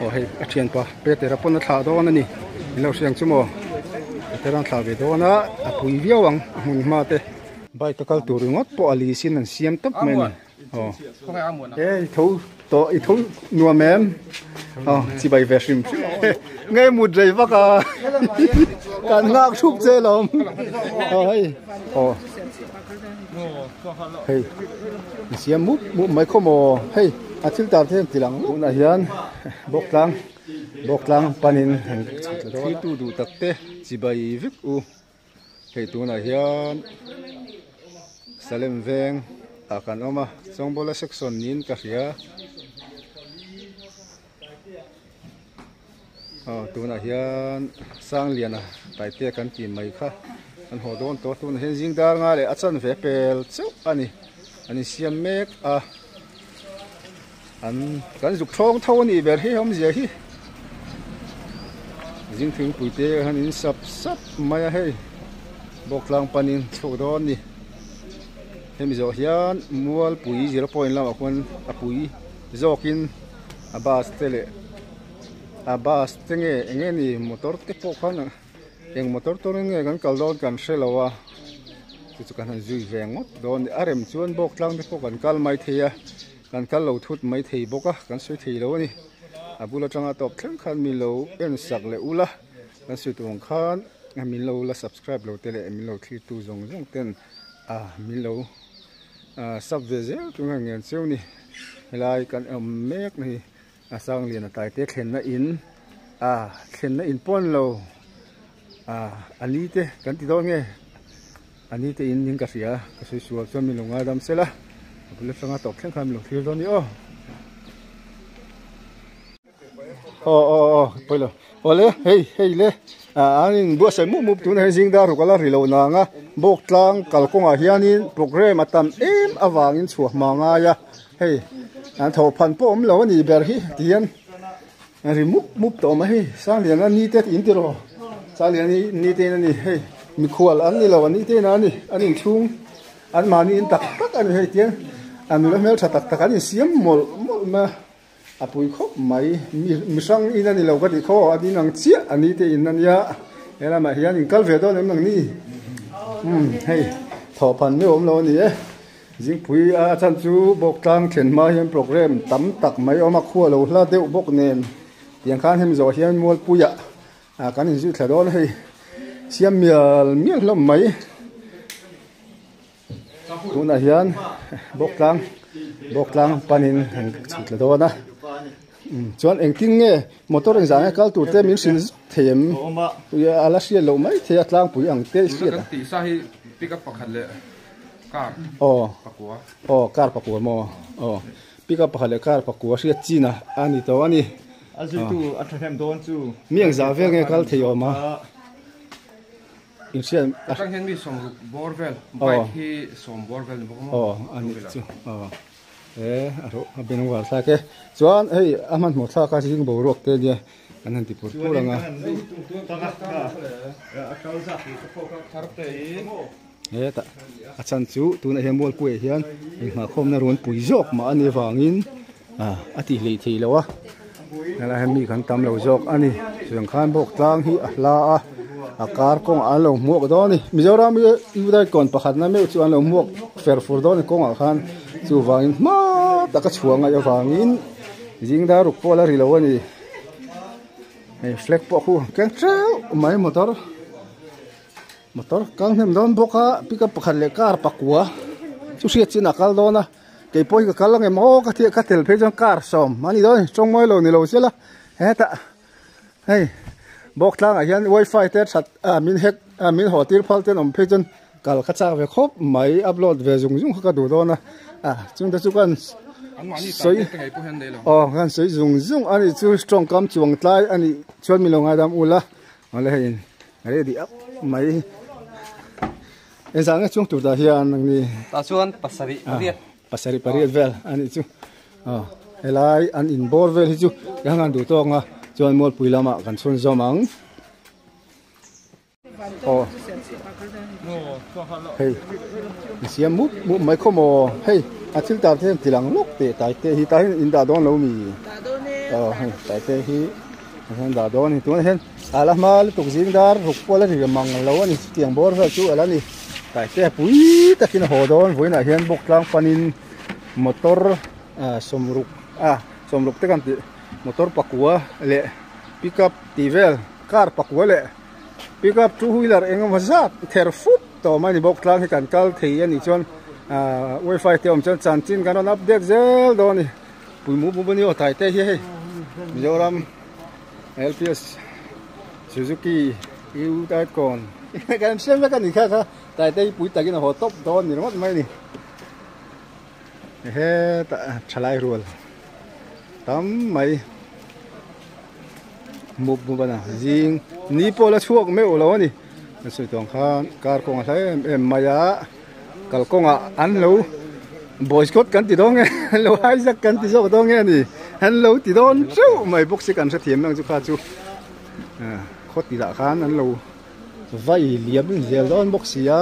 Aw hei a thianpa Petera pawn a thlah dawn a ni i lo hriang chu maw Petera an thlah ve dawn a a pui viau ang a hmun hma te bike a kal tur ringawt pawh a lease in an siam tawp mai a ni aw he i tho tawh i tho nuam em aw chibai ve hrim hrim e ngei mut rei vak a kan nghak thup che lo aw hei aw Hei, a siam mup mup mai khaw maw, hei a thil tar thei ang ti lang luh. Tunah hian bawktlang bawktlang panin an chhak tawh dawn a. Thiltu duh tak te chibai vek u. Hei tunah hian Salem veng ah kan awm a, Chawngbawl a section niin ka hria. Aw tunah hian sangliana taite kan tih mai kha kan haw dawn tawh a tunah hian zing dar nga leh a chanve pel chauh a ni an insiam mek a an kan zuk thawng tho a nih ber hi awmzia hi zing thingpui te han in sap sap mai a hei bawk tlang panin chhoh dawn a ni hemi zawh hian mualpui zero point lamah khuan a pui zawkin. a bus te leh a bus te nge eng nge ni motor te pawh khan eng motor turin nge kan kal dawn kan hre lo a chu chu ka han zui ve ngawt dawn nia a rem chuan bawk tlang te pawh kan kal mai thei a kan kal lo thut mai thei bawk a kan sawi thei lo a ni a bul atanga tawp thleng khan min lo en sak leh ula kan sawi tur ang khan min lo la subscribe lo te leh min lo thlir tu zawng zawng ten ah min lo A sap ve zel chu nge ngen cheu ni. Helai kan awm mek na hi a sangliana taite thlenna in a thlenna in pawn lo a ani te kan ti dawn nge ani te in ning ka hria ka sawi sual chuan min lo ngai dam sela a bul atanga tawp thleng khan min lo thlir dawn ni aw. Aw aw aw pawi lo. Aw le hei hei le ah an in buatsaih mup mup tuna hian zingdar rawh kala ri lohna ang a bawk tlang kal kawngah hianin programme a tam em avangin chhuah hma ngai a hei an tho phan pawh awm lo a nih ber hi tihian an ri mup mup ta awm a hei sangliana ni te in tiraw sangliana ni te in a ni hei mikhual an ni lo an ni te in a ni an inthlung an mahni in tak tak a ni hei tihian a nula hmel tha tak tak an insiam mawlh mawlh mai a. A pui khawp mai, mi mihrang in a ni lo ka tih khaw, a ding ang chiah a ni teh in a nia, he lamah hian in kal ve dawn em ang ni? Umm hei thawh phan meuh awm lo a ni e, zingpui a a chhan chu bawktlang thian hma hian programme tam tak mai a awm a, khua lo hla deuh bawk nen, tiang khan hemi zawh hian Mualpuia ah kan in zui thla dawn a hei, siam mial mial hlawm mai. tunah hian bawktlang bawktlang panin an chhit tla dawn a chuan engtin nge motor in zah nge kal tur te min hrin thei em ala hriat loh mai thei a tlangpui ang te i hriat aw aw car pakua maw aw pickup pakhat leh car pakua hriat chin a a ni tawh a ni a zui tu a thahnem dawn chu miang zah vel nge kal thei awm a. Atang hian mi sawm ruk bawr vel bike hi sawm bawr vel ni bawk maw? Aw a nih chu aw he a rawh a be rawng varthlak e chuan hei a hmanhmawh thlaka zing boruak te nia an han ti pur pur ang a hetah a chhan chu tunah hian mualpuiah hian inghahkhawmna rawn pui zawk mah a nih avangin. a ti hlih thih lo a helai ah hian mi kan tam lo zawk a ni tichuan khain bawk tlang hi a hla a a kar kawngah an lo hmuak dawn a ni mizoram i u daikon pakhat na meuh chu an lo hmuak fer fur dawn a ni kawngah khan chuvangin hma taka chhuah ngaih avangin zingdar ruk pawh a la ri lo a ni hei flag pawh a khu ang keng ṭeuh mai motor motor kal hnem dawn bawk a pickup pakhat leh car pakua chu hriat chinah a kal dawn a. Kei pawh hi ka kal angemaw aw ka tia ka tel phei chuan car sawm ani dawn a chawng ngailo nilo chiah la hetah hei bawk tlangah hian wifi te that ah min hack ah min haw tir phal te an awm phei chuan kal ka chak ve khawp mai upload ve zung zung kha ka duh dawn a a chungte chu kan sawi aw kan sawi zung zung a nih chu strong kam chuang tlai a nih chuan min lo ngaidam ula awle hei in ready auh mai. Engzah nge chungtur dah hian ang ni? Tah chuan pasarih pariat. Pasarih pariat vel a nih chu. Helai an inbawr vel hi chu eng ang an duh tawk nga chuan Mualpui lamah kan chhun zawm ang. Aw, hei a siam mup mup mai khaw maw? Hei a thil tar te hian tilang lawk teh Taite hi, tah hian in dah dawn lo mi? Dah dawn e. Aw hei Taite hi. Ahian dah dawn ani tuna hian ala hma lutuk zing dar ruk kual a ri reng mang lo ani chutiang bawr vel chu ala ni taite a pui takin a haw dawn vawiinah hian bawk tlang panin motor ah sawmruk ah sawmruk te kan tih motor pakua leh pickup tih vel car pakua leh pickup two wheeler eng emaw zat ther fup tawh mai a ni bawk tlang hi kan kal thei ani chuan ah wifi te awm chuan chanchin kan rawn update zel dawn a ni. Pawimawh Buma ni aw tai te hi hei Mizoram LPS Suzuki U type kawn kan em siam vek a ni kha kha tai te hi pui takin a haw tawp dawn ni ringawt mai ni he ta thalai rual tam mai mawp bumana zing ni pawh la chhuak meuh lo a ni Ka sawi chuan khan car kawng a hlai em em mai a, kalkawng ah an lo boycott kan ti dawn nge an lo hijack kan ti zawk dawn nge ni an lo ti dawn ṭeuh mai bawk si kan hre thiam ang chu kha chu khawti lah khan an lo vai liam inzel dawn bawk si a.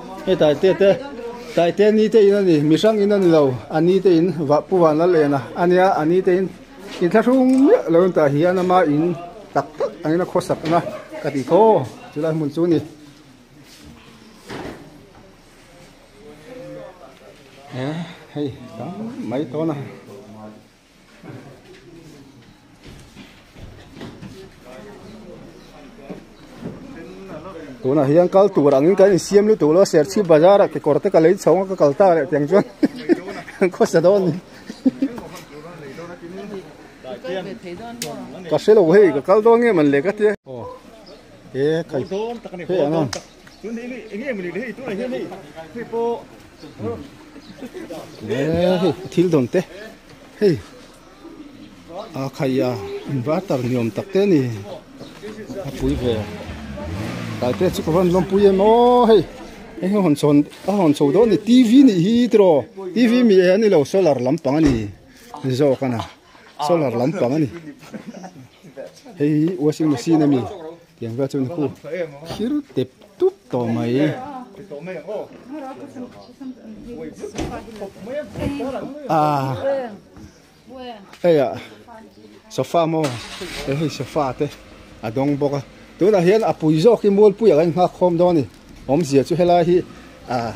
Hei Taite te, Taite ni te in a ni, mihrang in a ni lo, a ni te in, vah Pu Vanlal en a, a nia, a ni te in, in thla hrum miah lo in tah hian a ma in tak tak ang in a khaw sak ang a, ka ti thaw chu lai hmun chu ni. Hei, tam mai tawn a. tunah hian kal tur angin kan insiam lutuk lo a serchhip bazar ah kekawr te ka lei chho a ka kal ta leh tiang chuan kan khawsa dawn ni ka hrelo hei ka kal dawn ngei man le ka ti a aw he kai hei ang ang. thil dawn te hei a khaia inverter ni awm tak te a ni a pui ve kai te chu ka rawn lawm pui em aw hei hei hi a hawn chhawn a hawn chho dawn a ni T V nih hi tiraw T V miah hi a ni lo solar lampang a ni zawk a ni. solar lam pang a ni hei hi washing machine a ni tiang te chuan hoo thlir tep tup tawh mai ah hei ah sofa maw hei hi sofa te a dawng bawk a tunah hian a pui zawk hi mualpui ah ka inhak khawm dawn a ni. Awmzia chu helai hi ah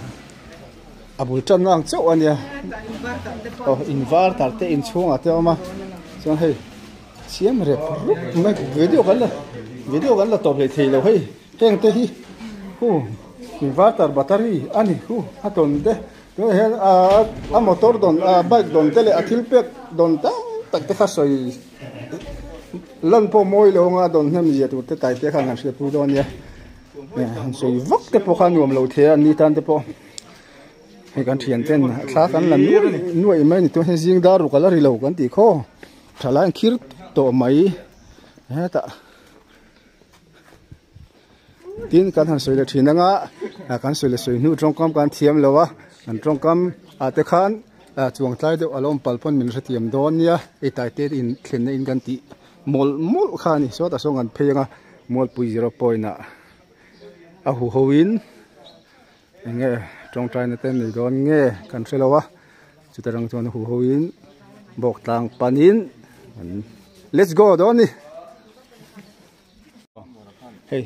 a bul tan ang chauh a nia aw invar tar te inchhungah te a awm a chuan hei siam rep rup mai ve deuh kan la ve deuh kan la tawp leh thei lo hei heng te hi hu invar tar battery a ni hu a tawn te tunah hian ah a motor dawn ah bike dawn te leh a thil pek dawn tam tak te kha sawi lan pawh mawi lo anga dawn hnem zia tur te tai te kha an han hria pui dawn a nia. han sawi vak te pawh kha nuam lo thei a an ni tan te pawh hei kan thian chen a thla kan la nuai nuai mai ni chuan hei zing dar ruk ala ri lo kan tih khaw tha lai ang khir tawh mai hetah tin kan han sawi leh thin anga kan sawi leh sawi hnu tawngkam kan thiam lo a an tawngkam ah te khan chuang tlai deuh alo awm pal pawn min hre thiam dawn nia hei taite in thlenna in kan tih. Mawlh mawlh kha a ni. Sawtah sawn kan phei ang a, Mualpui zero point ah a hu ho in eng nge tawngtai na te an nei dawn nge kan hre lo a, chutah rang chuan a hu ho in bawk tlang pan in an let's go dawn a ni. Hei.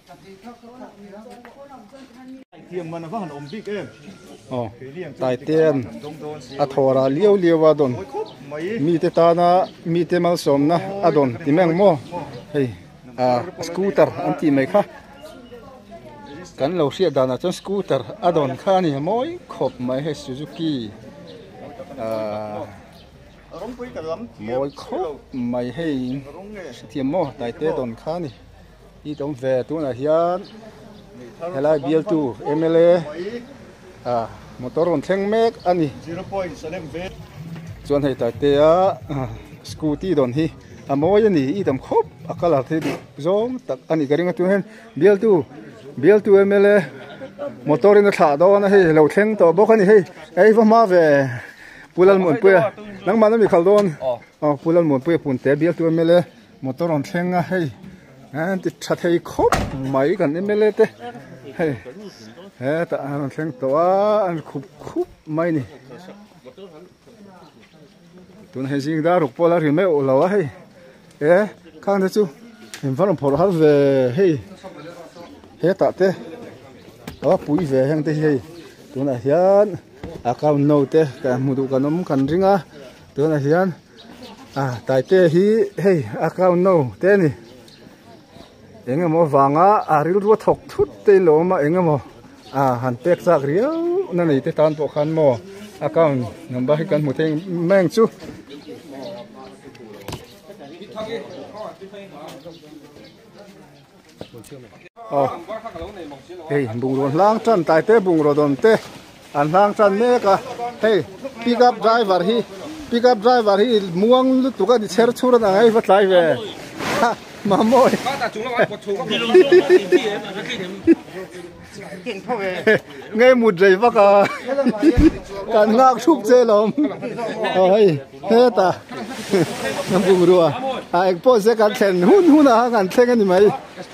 Taitian a thawr ah liau liau a dawn mi te tan a mi te malsawm na a dawn ti mai ang maw hei ah scooter an tih mai kha kan lo hriat dan ah chuan scooter a dawn kha a ni mawi khawp mai hei Suzuki ah mawi khawp mai hei an hre thiam maw Taite dawn kha a ni. Hit awm ve tunah hian helai bialtu mla motor rawn thleng mek a ni chuan hei ta tea scooty dawn hi a mawi a ni i tam khawp a color te duh zawng tak a ni ka ring a tunah hian bialtu bialtu mla motor in a thlah dawn a hei a lo thleng tawh bawk a ni hei ei va hma ve pu lalmuanpuia nangmahna mikhal dawn pu lalmuanpuia pun te bialtu mla -- Motor rawn thleng a hei an ti tha thei khawp mai kan mla te hei hetah an rawn thleng tawh a an khup khup mai ni tun hei zing dar ruk pawh la ri meuh lo a hei e khang te chu in var rawn phawrh har ve hei hetah te a pui ve a heng te hi hei tunah hian account no te kan hmu duh kan awm kan ring a tunah hian-- Ah Taite hi hei account no te a ni. Eng emaw vanga ah rilru a thawk thut te in lo awm a eng emaw ah han pek chak riau na nei te tan pawh khan maw account number hi kan hmu thei meng chu. Aw, hei bungraw hlang tan tai te bungraw dawn te an hlang tan mek a, hei pick up driver hi pick up driver hi muang lutuk a ni chher chhur a nang a i va tlai ve ha mamawih. ngay mut rei vak a kan ngak thuk che lo aw hei he ta kan bungrua a ah, ah, ekpawh se kan thlen hun hun a kan thleng ani mai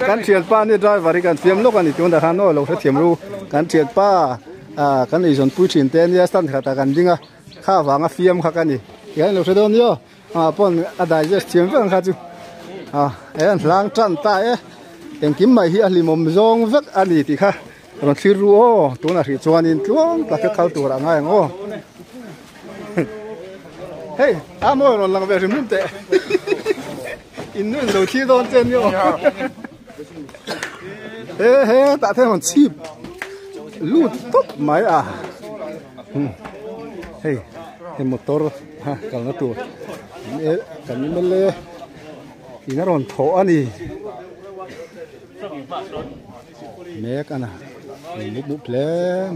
kan thian pa ni driver i kan fiam lawk ani tun da han no lo thiam ru kan thian pa a ah, kan ei zon pui thin te nia stand khat a kan ding a kha vanga fiam kha ka ni kan lo hre dawn nio Aa pawn a digest thiam vek ang kha chu aa he an hlang tan ta e engkim mai hi a hlimawm zawng vek a ni tih kha rawn thlir ru aw tunah hrih chuanin tluang tak hi khal tur a ngai ang aw hei a mawi rawn lang ve hrim hrim teh innuihhlo thi dawn che ni aw. he he tah thei hon chip lu top mai à hey he motor ha kal na tur e kan ni mel le ina ron tho ani mek ana mut mut hlem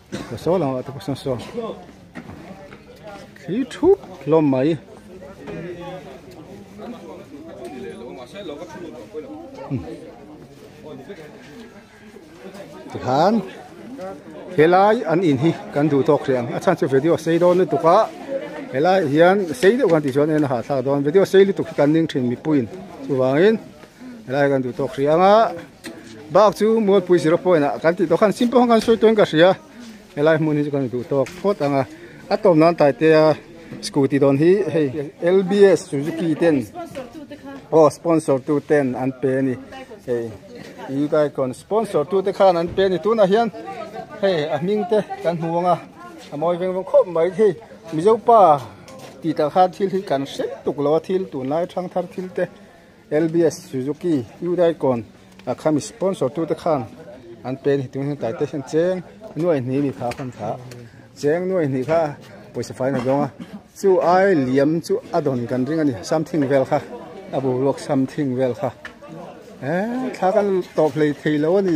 Ka saw lo ati pawh sawn saw. Thli thup hlawm mai. Tikhan helai an in hi kan du tawk riang a chan chu video sei dawn ni tuka helai hian sei deuh kan ti chuan en a ha thlak dawn video sei lutuk hi kan ning thin mipuiin chuvangin helai kan duh tawk riang a. Bak chu Mualpui zero point ah kan tih tawh khan simple khan kan sawi tuan ka hria helai hmun hi chu kan duh tawk phawt ang a a tawm nan tai te a scooty dawn hi hei lbs suzuki ten aw sponsor tu ten an pe a ni hei eguidon sponsor tu te khan an pe a ni tunah hian hei a hming te kan hmu ang a a mawi veng veng khawp mai hei mizo pa tih kal khan thil hi kan hrem tuk lo a thil tun lai a thang thar thil te. LBS Suzuki Hyundai Con a khami sponsor tute khan an pen hitin hian taite hian cheng nuai hnih ni kha khan kha cheng nuai hnih kha poisa fai na donga chu ai liam chu a don kan ring ani something vel kha a bu ruak something vel kha e thla kan top hlei thei lo ani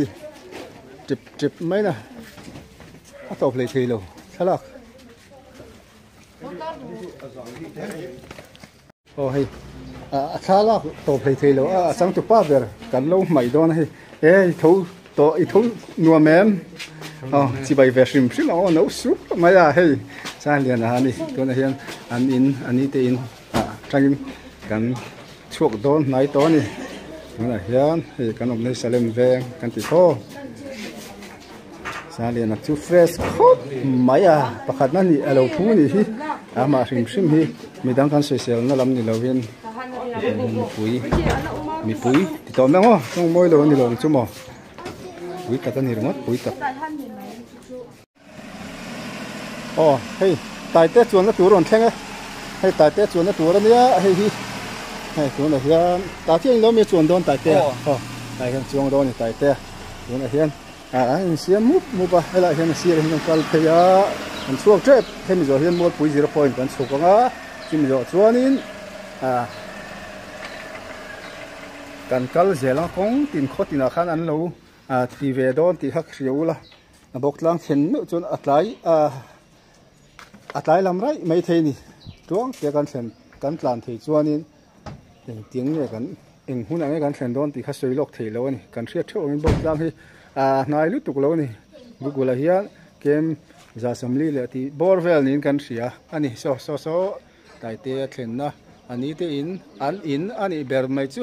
trip trip mai na a top hlei thei lo thalak Aw hei a thla lak tawh phei thei loh a, a chang tupa ber kan lo hmai dawn a hei. E i tho tawh i tho nuam em? Aw chibai ve hrim hrim ang aw no suk mai a hei Sangliana a ni. Tunah hian an in a ni te in atangin kan chhuak dawn hnai tawh a ni. Tunah hian hei kan awmna hi Salem veng kan ti thaw. Saliana chu fresh khawp mai a pakhatna nih a lo phu a nih hi a mah hrim hrim hi mi dang khan soisel na lam ni lo in mipui mipui ti tawh mai ang aw chawng mawi lo a ni lo ang chu maw pui tak a ni ringawt pui tak aw hei taite chuanna tur a rawn thleng e hei taite chuanna tur a nia hei hi hei tunah hian tah khian in lo a mi a chuan dawn taite a aw tah hian chuang dawn a ni taite a tunah hian ah an insiam mup mup a helaiah hian a sirah hian an kal phei a an chhuak tep hemi zawh hian mawlpui zero point kan chhuk ang a chumi zawh chuanin ah kan kal zel ang kawng tin khaw tinah khan an lo ah ti ve dawn tih hak hria ula a bawk tlang chhen meuh chuan a tlai ah a tlai lam raih mai thei a ni tluang te kan thlen kan tlan thei chuanin Engtiang nge kan eng hunah nge kan thlen dawn tih kha sawi lawk thei lo a ni. Kan hriat theuh angin bawk tlang hi aa hnai lutuk lo a ni. Google-ah hian Kem Zasawmli leh tih bawr vel niin kan hria a ni. Saw saw saw Taite a thlenna a ni teiin an in a nih ber mai chu.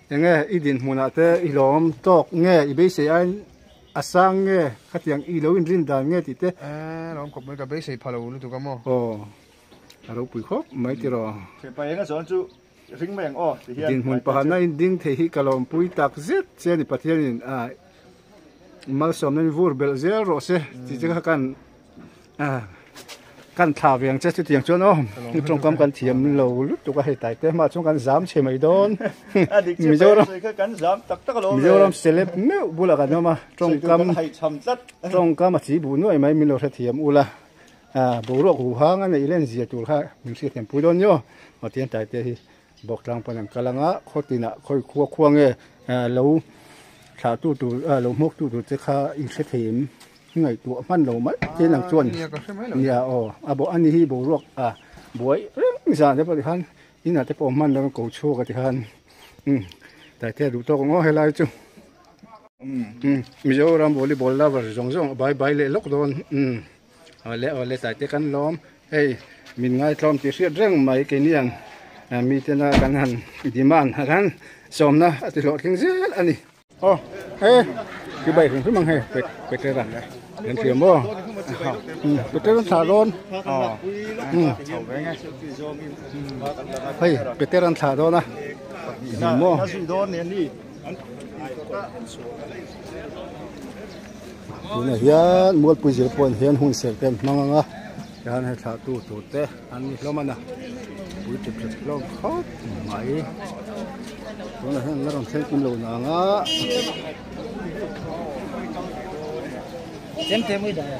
Enge i dinhmunah te i lawm tawk nge? I beisei aiin a sang nge? Khatiang i lo inrin dan nge tih te. Eee, lawm khawp mai, ka beisei pha lo lutuk a maw? Aw, a ropui khawp mai tir aw. Phepa eng a zawn chu ring mai ang aw tih hian. Dinhmun pakhatna inding thei hi ka lawmpui tak zet che a ni, Pathianin a malsawmna in vur belh zel rawh se tih te kha kan. kan thla veng che chutiang chuan aw heng tawngkam kan thiam lo lut tuk a hei tai te mah chuan kan zam chhe mai dawn mizoram mizoram celeb meuh bulah kan awm a tawngkam tawngkam a chihbuh nuaih mai min lo hre thiam ula boruak huhang a neih len zia tur kha min hriat thiam pui dawn nio mah tiang tai te hi Bawk tlang pawn an kal ang a, khawtinah khawi khua khua nge lo thlahtu tur, lo hmawktu tur te kha inhrethiam ngaih tuah hman lo mah tiin ang chuan nia aw, a bo ani hi boruak a buai reng zan te pawh tikhan inah te pawh hman lo ko chhuak a tikhan Taitea duh tawk ang aw helai chu Mizoram volleyball lover zawng zawng a bai bai leh lawk dawn. Awle awle Taite kan lawm hei min ngaitlawm tih hriat reng mai kei nian mi tena kan han demand a kan sawmna a ti hlawh tling zel a ni. Aw he hi bike hrim hrim ang hei petrol a kan fiam maw petrol an thlah dawn hei petrol an thlah dawn a kan hmu maw. tunah hian mualpui zir pawhin hian hun serh te an hmang anga tichuan he thlah tu tur te an ni hlawm a na pui tip tha hlawm khawp mai tunah hian la rawn thleng kim lo na anga sem te mawih daih a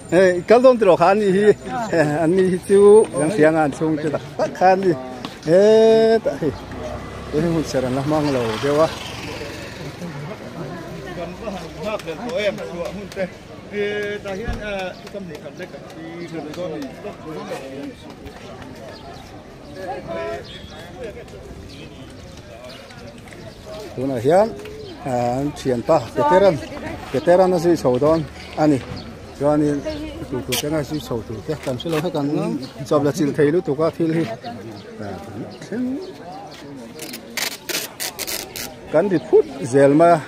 Hei kal dawn tilo kha an nih hi an nih hi chu kan hria nga an chhung te tak tak kha an ni he tah hi chu hei hun ser an la hmang lo deuh a tunah hian an thianpa veteran veteran a zui chho dawn a ni chuanin tui tur te ngai zui chho tur te kan hre lo vek ang a chawpla chilh thei lutuk a thil hi thleng kan ri phut zel mai a.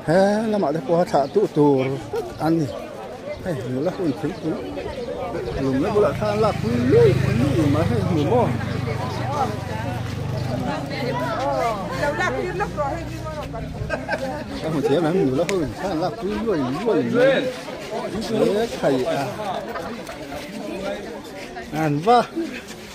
He lamah te pawh a thlah tuh tur a ni. Hei nula hun phei tur lum na bulah thla an lak pui luih pui luih em ah hei a hmu maw? Ka hmu thiam em nula hun thla an lak pui luai luai mai. He thei a. An va.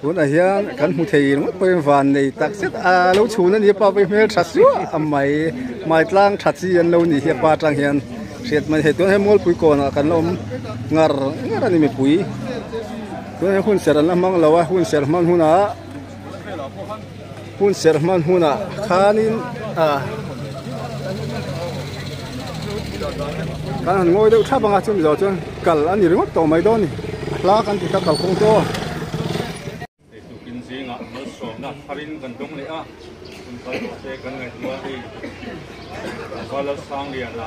Tunah hian kan hmu thei ringawt pawhin van nei tak zet a lo chhun a ni a, pa pawh i hmel tha suah a mai. Hmai tlang tha chi an lo nih hi a pa tang hian hriat mai a ni. Hei tunah hian Mualpui kawnah kan lo awm ngar ngar a ni mipui. Tunah hian hunserh an la hmang lo a, hunserh hman hunah-- Hun serh hman huna khanin kan han ngawi deuh thap ang a, chumi zawh chuan kal a ni ringawt tawh mai dawn a ni, a hla kan ti kha kalkawng chu aw. Eiturkin zingah malsawmna thar in kan dawng leh a, hun kal zawh te kan ngaihtuah a ni. Valalsangliana.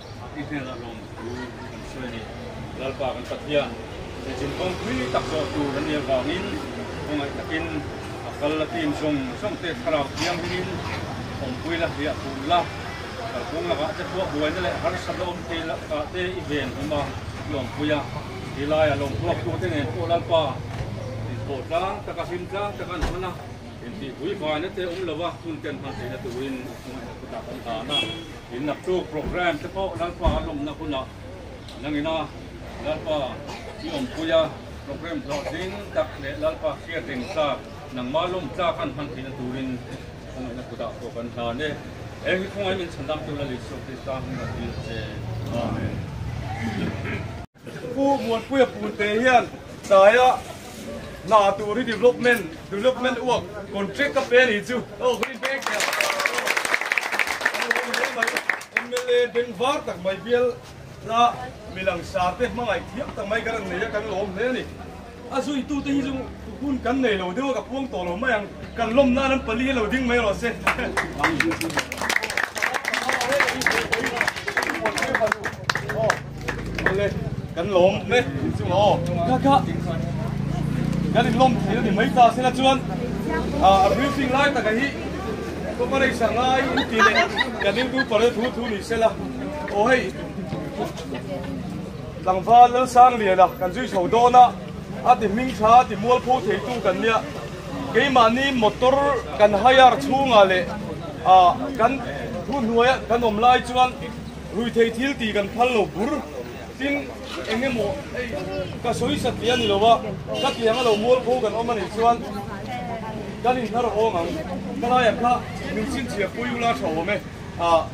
I hmel a lawm thu kan hria a ni. Lalpa kan Pathian Hlechin kawngpui tak zawh tur a nia vangin khawngaih takin a kal la team zawng zawngte thlarau thianghlimim awmpui la hliah hul la. Kalkawng lakah te pawh buaina leh harsa la awm thei lah kah te i ven hlawm a, i awmpui a. Hi laia lawm hruaktute nen pawh Lalpa inpawh tlang taka, hlim tlang taka an hman a, intihpui vaina te awm lova hun tenhman theihna turin i khawngaihna thutak an dan a. In naktuk programme te pawh Lalpa a lawmna hunah an angin a, Lalpa i awmpui a, programme zawh ding tak leh Lalpa hriat reng tlak nangma lawm tlak an hman theihna turin khawngaihnat kut ah pawh kan hlan e. Heng hi khawngaihnat inchhan lam tura Lisuah Krista hming ah kan inhman e. Amen. Pu Muanpuia Punte hian Taia hna tur hi development development uak contract ka pe ani chu oh ka inbel hle a inbel mai mla beng var tak mai bial a mi langsar te hmangaih thiam tak mai ka rawn nei a kan lawm hle ani. A zuitute hi chu hun kan nei lo deuh a ka puang tawh lo mai ang, kan lawm nan an pali hi lo ding mai erawh se. Awle kan lawm hle inchung aw kha kha kan in lawm thei ani mai ta se la chuan a briefing lai taka hi cooperation ngai in ti leh kan in thu pare thu thu ni se la aw hei Tlangva Lalsangliana kan zui chho dawn a, a ti hming tha ti mual pho theitu kan nia. Keimahni motor kan hire chhungah leh kan hnu hnuaia kan awm lai chuan rui thei thil tih kan phal lo bur. Tin, eng emaw hei ka sawi sa tih a ni lo va, ka tiang a lo mual pho kan awm a nih chuan kan inhla rawh awng ang. Ka laiah kha min chhinchhiah pawh i ula tha awm e.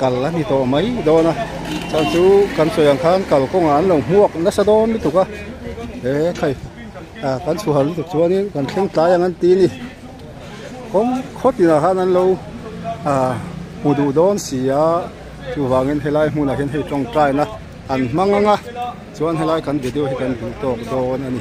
kal a ni tawh mai dawn a chhan chu kan sawi ang khan kal kawng ah an lo hmuak nasa dawn lutuk a he khai ah kan chhuah hal lutuk chuan in kan thleng tlai ang an ti a ni khawng khaw tin ah khan an lo ah hmu duh dawn si a chuvang in he lai hmun ah hian hei tawngtai na an hmang ang a. Chuan helai kan video hi kan hmuh tawk dawn a ni.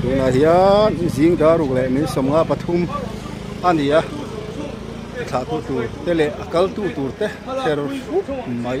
Tunah hian zingdar uk leh min sawmnga pathum a ni a, thlahtu tur te leh a kaltu tur te kher hruk mai.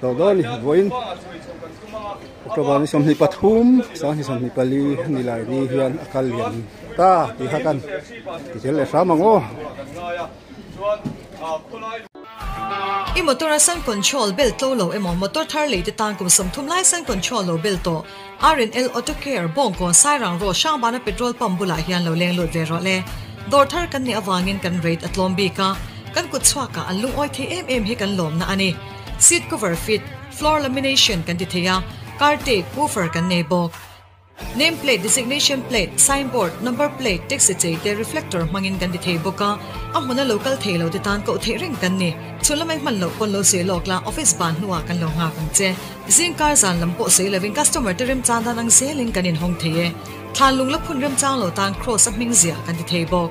Tawh dawn ni vuahin October ni sawmhnih pathum sang ni sawmhnih pali ni lai ni hian a kal lian ta tih kha kan ti tel leh hram ang aw. I motor a sun control bel tlo lo emaw motor thar lei te tan kum sawm thum lai sun control lo bel tawh RNL auto care bawng kawn sairang road hrang bana petrol pump bulah hian lo leng lut ve rawh le dawr thar kan nih avangin kan rate a tlawm bik a kan kut chhuak ah an lungawi thei em em hi kan lawmna a ni. Seat cover fit, floor lamination kan ti thei a, car tape, woofer kan nei bawk. Name plate, designation plate, sign board, number plate, taxi chei te reflector hmangin kan ti thei bawk a, a hmun a lo kal thei lo te tan koh theih reng kan ni. Chhun lam ai hman loh pawn lo sawi lawk la, office ban hnuah kan lo nghak ang che. Zing car zan lam pawh sawi lovin customer te remchang dan ang zelin kan inhawng thei e. Thlanlung la phun remchang lo tan cross a hming ziah kan ti thei bawk.